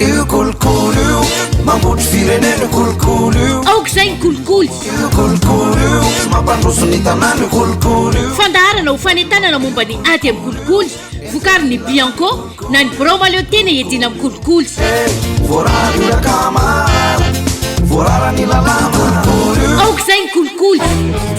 Io kolikoly io Mambotry firenena io kolikoly io Aoka izay ny kolikoly Io kolikoly io Tsy mampandroso ny tanàna io kolikoly io Fandaharana ho fanentanana momba ny ady amin'ny kolikoly Vokary ny Bianco na ny birao maleo tena iadiana amin'ny kolikoly eh, Voarara io rakama Voarara ny lalàna kolikoly io Aoka izay ny kolikoly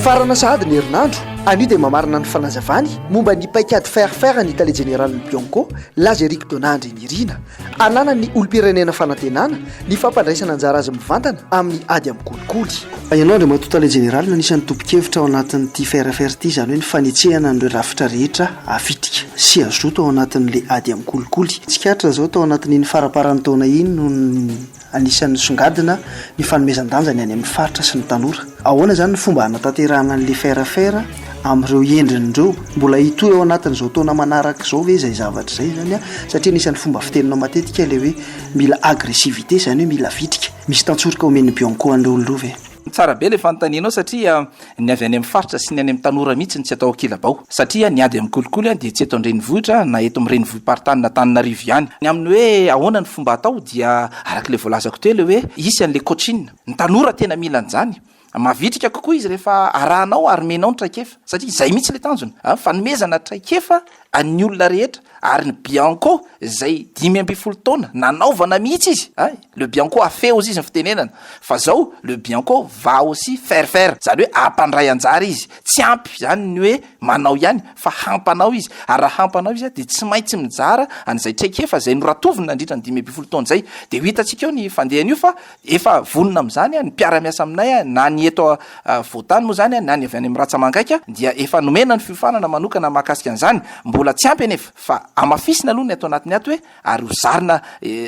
Farana sahady ny herinandro Anio dia mamarana ny fanazavany momba ny paikady faire faire ny tale jeneralin'ny Bianco, Laza Eric Donandry. Irina, ananan'ny olom-pirenena fanantenana ny fampandraisana anjara azy mivantana amin'ny ady amin'ny kolikoly. Fa ianao Andriamatoa Tale Jeneraly no anisan'ny tompon-kevitra ao anatin'ity FRFR ity, izany hoe ny fanetsehana an'ireo rafitra rehetra havitrika sy hazoto ao anatin'ilay ady amin'ny kolikoly. Tsikaritra izao tao anatin'iny faramparan'ny taona iny no. Anisan'ny nisongadina ny fanomezan-danja ny any amin'ny faritra sy ny tanora. Ahoana izany ny fomba hanatanterahana ny Faire Faire amin'ireo endriny ireo? Mbola hitohy ao anatin'izao taona manaraka izao ve izay zavatra izay izany? Satria anisan'ny fomba fiteninao matetika ilay hoe mila agressivité, izany hoe mila vitrika. Misy tantsoroka omen'ny Bianco an'ireo olona ireo ve? Tsara be le fanontanianao satria ny avy any am faritra sy ny any am tanora mihitsy no tsy atao kilabao. Satria ny ady am kolikoly dia tsy eto an-drenivohitra na eto am renivohi-paritany na Antananarivo ihany. Ny aminy hoe ahoana ny fomba atao dia araka le voalazako teo le hoe hisy anle coaching. Ny tanora tena mila an'zany. Mavitrika kokoa izy rehefa arahanao ary menao ny traikefa. Satria izay mihitsy le tanjona an, fanomezana traikefa an'ny olona rehetra ary ny bianco izay dimy ambin'ny folo taona nanaovana mihitsy izy an. Le bianco afeo ozy izy ny fitenenana fa zao le bianco va aussi faire faire zany hoe ampandray anjara izy tsy ampy zany ny hoe manao ihany fa hampanao izy ary raha hampanao izy dia tsy maintsy mijara an'izay traikefa izay noratoviny nandritra ny dimy ambin'ny folo taona izay dia ho hitantsika eo ny fandehan'io fa efa vonona amin'izany ny mpiara-miasa aminay na ny eto voatany moa izany na ny avy any amin'ny ratsamangaika dia efa nomena ny fiofanana manokana mahakasika an'izany mbola tsy ampy anefa fa amafisina aloha ny ato anatin'ny ato hoe Ary ho zarina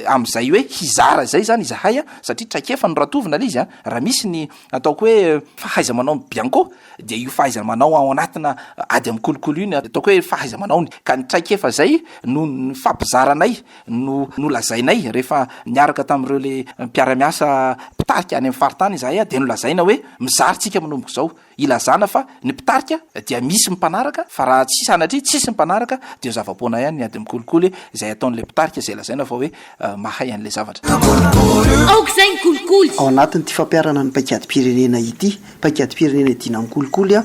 amin'izay hoe hizara izay izany izahay an, satria traikefa no ratovina ilay izy an, raha misy ny ataoko hoe fahaiza-manaon'i Bianco dia io fahaiza-manao ao anatina ady amin'ny kolikoly io ny ataoko hoe fahaiza-manaony, ka ny traikefa izay no nifampizaranay, no nolazainay rehefa niaraka tamin'ireo le mpiara-miasa mpitarika any amin'ny faritany izahay an, dia nolazaina hoe mizara tsika manomboka izao, Ilazana fa ny mpitarika dia misy ny mpanaraka fa raha tsy sanatria tsisy ny mpanaraka dia zava-poana ihany ny ady mikolikoly izay ataon'ilay mpitarika izay lazaina fa hoe mahay an'ilay zavatra. Aoka izay ny kolikoly! Ao anatin'ity fampiharana ny paikadim-pirenena ity, paikadim-pirenena iadiana amin'ny kolikoly,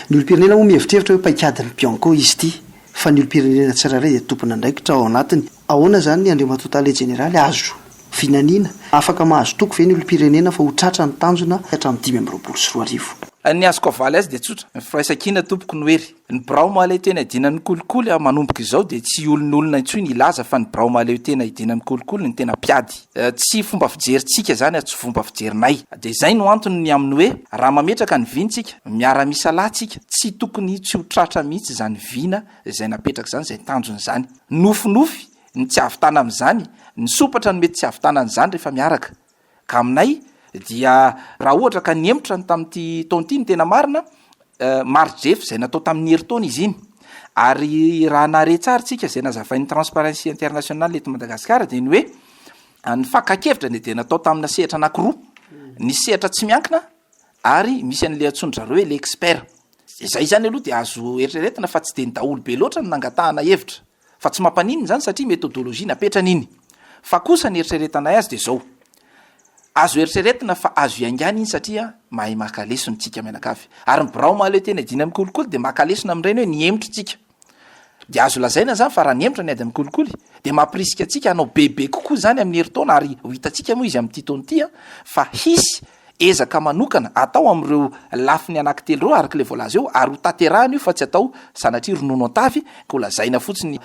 ny olom-pirenena moa mihevitrevitra hoe paikadin'ny Bianco izy ity fa ny olom-pirenena tsirairay dia tompon'andraikitra ao anatiny. Ahoana izany ny Andriamatoa Tale Jeneraly? Azo vinaniana? Afaka mahazo toky ve ny olom-pirenena fa ho tratra ny tanjona hatramin'ny dimy amby roapolo sy roa arivo? Ny azoko avaly azy dia tsotra, ny firaisankina tompoko no hery. Ny birao mahaleotena hidiana ny kolikoly manomboka izao dia tsy olon'olona intsony hilaza fa ny birao mahaleotena hidiana ny kolikoly no tena mpiady. Tsy fomba fijerintsika izany ary tsy fomba fijerinay. Dia izay no antony ny amin'ny hoe raha mametraka ny vina isika, miara-misalahy isika, tsy tokony tsy ho tratra mihitsy izany vina izay napetraka izany, izay tanjona izany. Nofinofy ny tsy hahavitana amin'izany, nisompatra ny mety tsy hahavitana an'izany rehefa miaraka. Ka aminay dia raha ohatra ka nihemotra ny tamin'ity taona ity ny tena marina, mari-drefy izay natao tamin'ny herintaona izy iny. Ary raha nahare tsara isika izay nazavain'ny Transparency International eto Madagasikara dia ny hoe ny fakan-kevitra dia natao tamina sehatra anankiroa, nisy sehatra tsy miankina ary misy an'ilay antsoin-dry zareo hoe ilay expert, Izay izany aloha dia azo eritreretina fa tsy dia ny daholo be loatra no nangatahana hevitra, fa tsy mampaninona izany satria methodologie napetrany iny. Fa kosa ny eritreretanay azy dia izao, azo eritreretina fa azo iaingana iny satria mahay maka lesona isika mianakavy. Ary ny birao mahaleo tena hidiana amin'ny kolikoly dia maka lesona amin'ireny hoe ny hemotra isika. Dia azo lazaina izany fa raha nihemotra ny ady amin'ny kolikoly dia mampirisika antsika hanao bebe kokoa izany amin'ny herintaona ary ho hitantsika moa izy amin'ity taona ity fa hisy ezaka manokana atao amin'ireo lafiny anankitelo ireo araka ilay voalaza eo ary hotanterahina io fa tsy atao sanatria ronono an-tavy ka holazaina fotsiny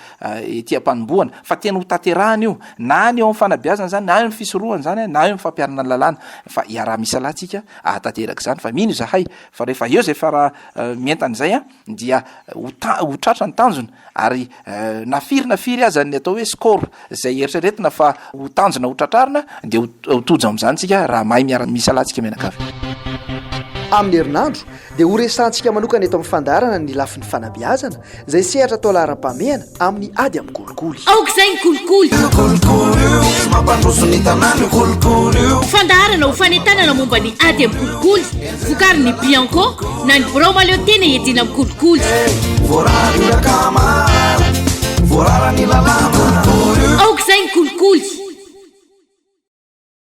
ety am-panombohana fa tena hotanterahina io na ny eo amin'ny fanabeazana izany na eo amin'ny fisorohana izany na eo amin'ny fampiharana ny lalàna fa iaraha-misalahy tsika ahatanteraka izany fa mino izahay fa rehefa eo izay fara mientana izay an dia ho ta- ho tratra ny tanjona ary eh, na firy na firy aza ny atao hoe score izay eritreretina fa ho tanjona ho tratrarina dia ho ho tojo amin'izany tsika raha mahay miara misalatsika mianakavy Amin'ny herinandro dia horesahantsika manokana eto amin'ny fandaharana ny lafiny fanabeazana izay sehatra atao laharam-pahamehana Amin'ny ady amin'ny kolikoly. Aoka izay ny kolikoly! Io kolikoly io, mampandroso ny tanàna io kolikoly io. Fandaharana ho fanentanana momba ny ady amin'ny kolikoly, vokarin'ny Bianco na ny birao mahaleo tena iadiana amin'ny kolikoly. Voarara ny rakama, voarara ny lalàna. Aoka izay ny kolikoly!